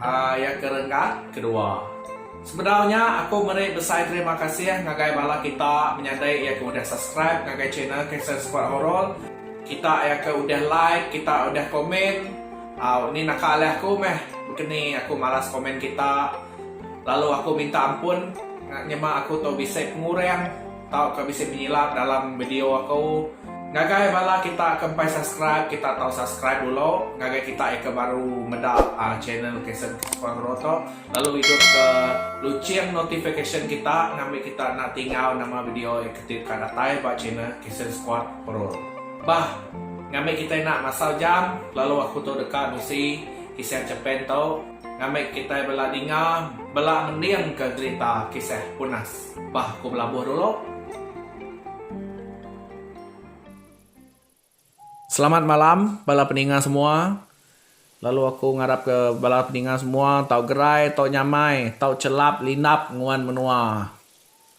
Ayat ke renggat kedua. Sebedau nya aku meri besai terima kasih ngagai bala kita menyadi iya ke udah subscribe ngagai channel Cancel Squad Horor, kita iya ke udah like, kita udah komen, au ni naka alih aku meh bekeni aku malas komen kita lalu aku minta ampun nyema aku tu bisi pengurang. Tauka bisi penyilap dalam video aku. Ngagai bala kita ke empai subscribe kita tau subscribe dulu ngagai kita ika baru meda channel Kason Kespangro tu lalu idup ke luching notification kita ngambi kita enda tingau nama video ika ti deka datai ba channel Kason Squad Pro bah ngambi kita enda masal jam lalu aku tu deka nusi kisah Japan tu ngambi kita bela ninga bela mending ke gerita kisah punas. Bah aku belabuh dulu. Selamat malam bala peninga semua. Lalu aku ngarap ke bala peninga semua tau gerai tau nyamai tau chelap lindap nguan menua.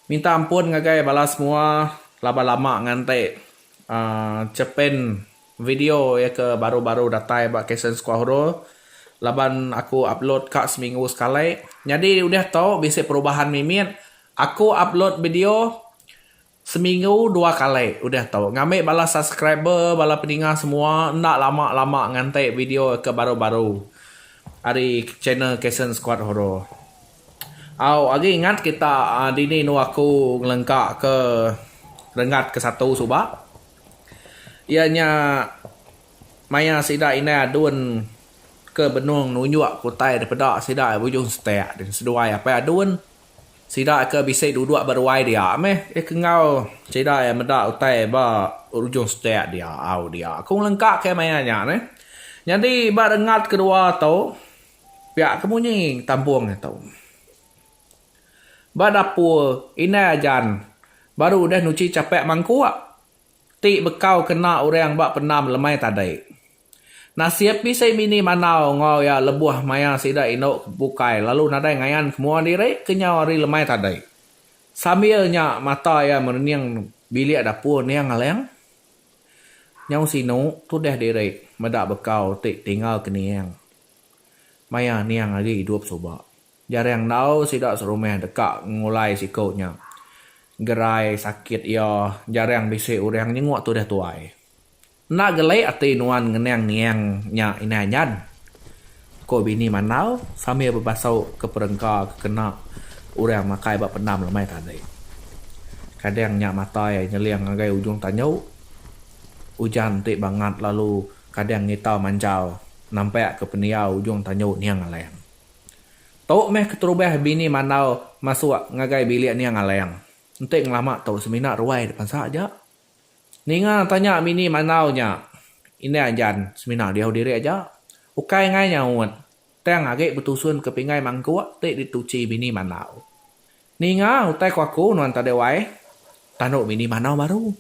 Minta ampun ngagai bala semua laban lama nganti uhh chepen Video iya ke baru-baru datai ba Kasen Square Horror laban aku upload ka seminggu sekali. Nyadi udah tu bisi perubahan mimit. Aku upload video seminggu dua kali udah tu. Ngambi bala subscriber, bala peninga semua enda lama-lama nganti video ke baru-baru ari channel Kasen Square Horror. Au agi ingat kita dini anu aku ngelengka ke renggat ke satu suba. Iya nya maya sida indai adun ke benung nunjuk ke utai da peda sida di Bujung Setek ti seduai apai adun sida ke bisi duduk ba ruai dia meh iya ke enggau sida iya meda utai ba Ujung Setek dia au dia ku ngelengka ke maya nya neh. Nyadi ba rengat kedua tu pia ke munyi tampung nya tu. Ba dapur, indai Ajan baru udah nuchi chapak mangkuk ti bekau kena orang ba pendam lemai tadi. Nasib bisi bini mandau enggau iya lebuh maya sida indu bukai lalu nadai ngayan ke mua diri kenyau hari lemai tadi. Sambil nya mata iya merening bilik dapur ending alang. Nyau sinu tudah diri meda bekau ti tinggal kening maya ending agi idup suba. Jarang enggau sida serumah deka ngulai siku nya. Gerai sakit iya, jarang bisi orang nyenguk tudah tuai. Enda gelik ati nuan ngenang niang nya indai anyan, ku bini Mandau sambil bebasukka perengka ke kena orang makai ba pendam lemai tadi. Kadang nya matai nyeling ngagai ujung tanyu. Ujan ti bangat lalu kadang ngitau manjal nampakka pendiau ujung tanyu niang alang. Tu meh keterubah bini Mandau masuk ngagai bilik Niang Aleng. Enti ngelama tu semina ruai depan sa aja. Ninga tanya bini Mandau nya, Indai Anjan semina diau diri aja. Ukai ngai nyaut, tang agi betusun ke pinggai mangkuk ti dituchi bini Mandau. Ninga utai ko aku nuan tadi wai? tandu bini Mandau baru.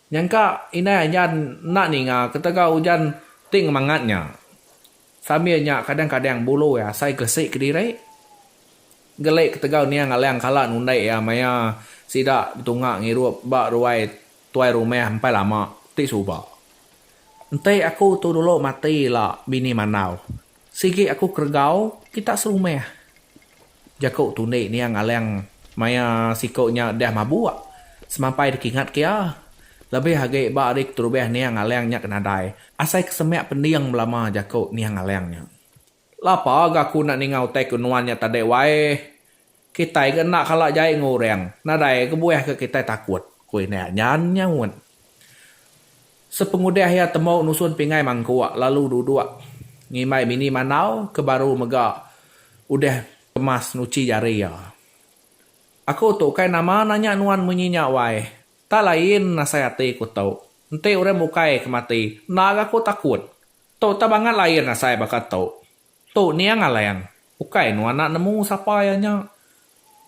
Nyangka indai ajar enda ninga ketegal ujan ti ngemangat nya. Sambil nya kadang-kadang bulu iya asai gesi kediri. Geli ketegal niang Alang kala nundi iya maya sida betunga ngirup ba ruai tuai rumah empai lama ti suba. Enti aku tu dulu mati ila bini mandau. Sigi aku keregau kita serumah. Jaku tundi niang Alang maya siku nya deh mabuk semampai dikingat ke iya. Lebih agi ba ari keterubah niang Alang nya ke nadai asai ke semak pending belama jaku niang Alang nya. Lapa ga aku enda ninga utai ke nuan nya tadi wai. Kitai ke enda kala jai enggau orang nadai kebuah ke kitai takut, ku Inak Nyan nyaut. Sepengudah iya temu nusun pingai mangkuk lalu duduk ngimbai bini mandau ke baru mega udah kemas nuchi jari iya. Aku tu ukai nama nanya nuan munyi nya wai. Tak lain asai ati ku tu. Enti orang bukai ke mati, enda ga ku takut. Tu tau bangat lain asai baka tu. Tu niang Alang, ukai nuan enda nemu sapa iya nya.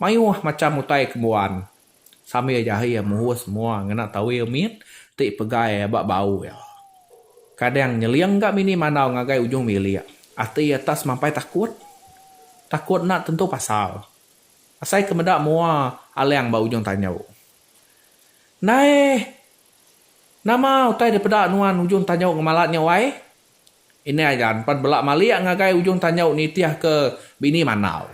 Mayuh macham utai ke mbuan. Sambil jahi iya muhus mua ngena tawil mit ti pegai aba bau iya. Kadang nyeling ga mini mandau ngagai ujung bilik. Ati iya tak semampai takut. Takut enda tentu pasal. Asai ke meda mua Alang ba ujung tanju. Ndai! Nama utai dipeda nuan ujung tanju ngemalat nya wai? Indai gan pan bela malik ngagai ujung tanjau nitihka bini mandau.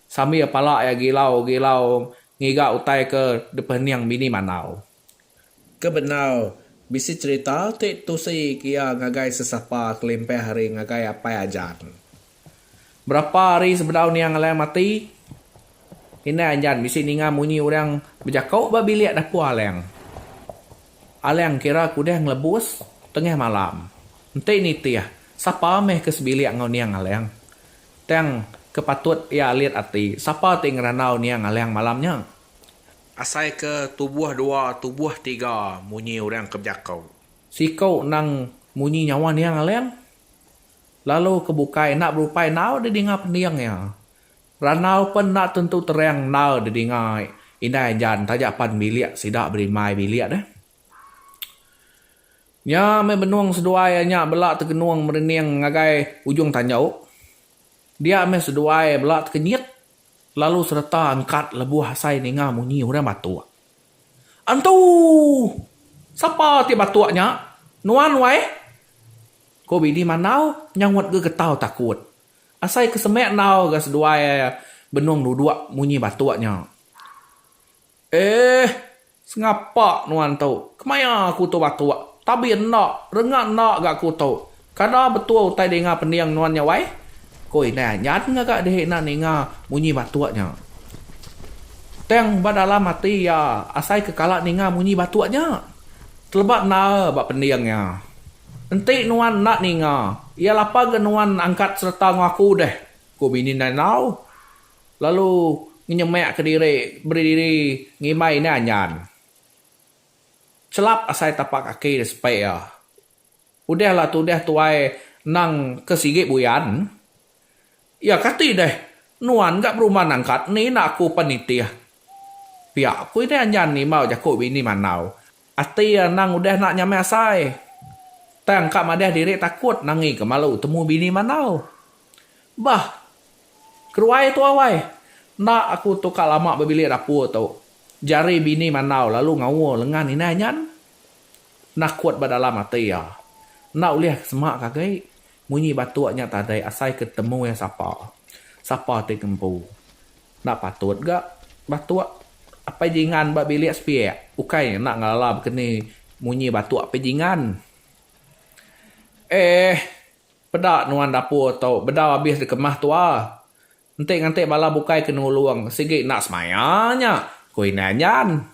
Sambil pala iya gilau-gilau ngiga utai ke dipening bini mandau. Ke bendar, bisi cherita ti tusi ke iya ngagai sesapa kelimpah ari ngagai Apai Ajan. Berapa hari sebedau Niang Alai mati, indai Anjan bisi ninga munyi orang bejaku ba bilik dapur Alang. Alang kira ke udah ngelebus tengah malam. Enti nitih, sapa meh ke sebilik enggau Niang Alang? Tang ke patut iya alit ati, sapa ti ngerandau Niang Alang malam nya? Asai ke tubuh dua, tubuh tiga munyi orang ke bejaku. Siku endang munyi nyawa Niang Alang. lalu ke bukai enda berupai endaau didinga pending iya. Randau pen enda tentu terang endaau didinga indai Jan taja pan bilik sida berimbai bilik deh. Nya meh benung seduai iya nya bela tegenung merening ngagai ujung tanjau. Dia meh seduai bela tekenyit lalu sereta angkat lebuh asai ninga munyi orang batuk. Entu! Sapa ti batuk nya? Nuan wai? Ku bini Mandau nyaut ga getau takut. Asai ke semik endau ga seduai benung duduk munyi batuk nya. Eeh! Sengapa nuan tu? Kemaya aku tu batuk? Tabi enda, renggat enda ga aku tu. Kada betul utai dinga pending nuan nya wai, ku indai Anyan ngaga diri enda ninga munyi batuk nya. Tang ba dalam ati iya asaika kala ninga munyi batuk nya. Teleba endar ba pending iya. Enti nuan enda ninga iya lapa ga nuan angkat sereta ngaku deh, ku bini indai enggau lalu ngenyemakka diri beri diri ngimbai indai Anyan chelap asai tapak kaki iya sepik iya. Udah lah tudah tuai nang ke sigi buyan. Ya kati deh, nuan ga berumah nangkat ni enda aku pan nitih. Pia aku ini anjan nimau jaku bini mandau. Ati anang udah enda nyamai asai. Tang ka madah diri takut nangi ke malu temu bini mandau. Bah. Keruai tu awai. Enda aku tu ka lama bebilik dapur tu. Jari bini mandau lalu ngaul lengan inai anyan. penakut ba dalam ati iya. Enda ulih ke semak ke agi munyi batuk nya tadi asai ke temu iya sapa. Sapa ti ngempu. Enda patut ga batuk apai jingan ba bilik sepiak. Ukai nya enda ngelala bekeni munyi batuk apai jingan. Eeh peda nuan dapur tu beda abis dikemah tua. Enti nganti bala bukai ke nulung sigi enda semaya nya, ku indai Anjan.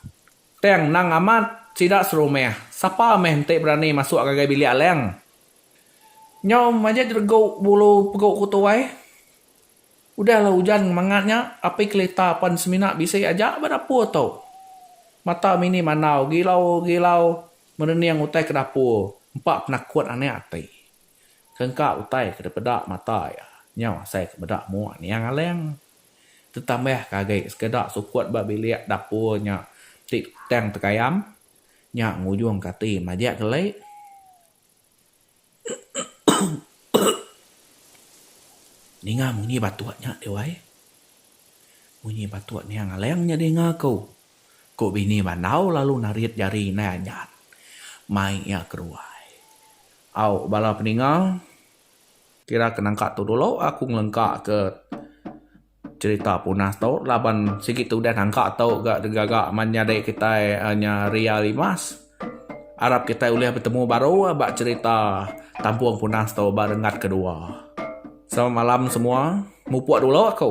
Tang endang amat sida serumah, sapa meh enti berani masuk ngagai bilik Alang. Nyau majak jeregu bulu pegu ku tuai. Udahlah ujan ngemangat nya, api kelita pan semina bisi aja ba dapur tu. Mata mini mandau gilau-gilau merening utai ke dapur, empa penakut anak ati. Ke engka utai ke dipeda mata iya, nyau asai ke meda mua niang Alang. Tetambah ke agi sekeda sukut ba bilik dapur nya ti tang tegayam, nya ngujungka ati majak geli. Ninga munyi batuk nya deh wai. Munyi batuk niang Alang nya ninga aku, ku bini bandau lalu narit jari indai anjat mai iya keruai. Au bala peninga, kira ke nangka tu dulu aku ngelengka ke cerita Punas tu laban sigi tu udah nangka tu ga gaga man nyadi kitai nya Ria Limas. Arap kitai ulih betemu baru ba cerita Tampung Punas tu ba renggat kedua. Selamat malam semua. Mupuk dulu aku.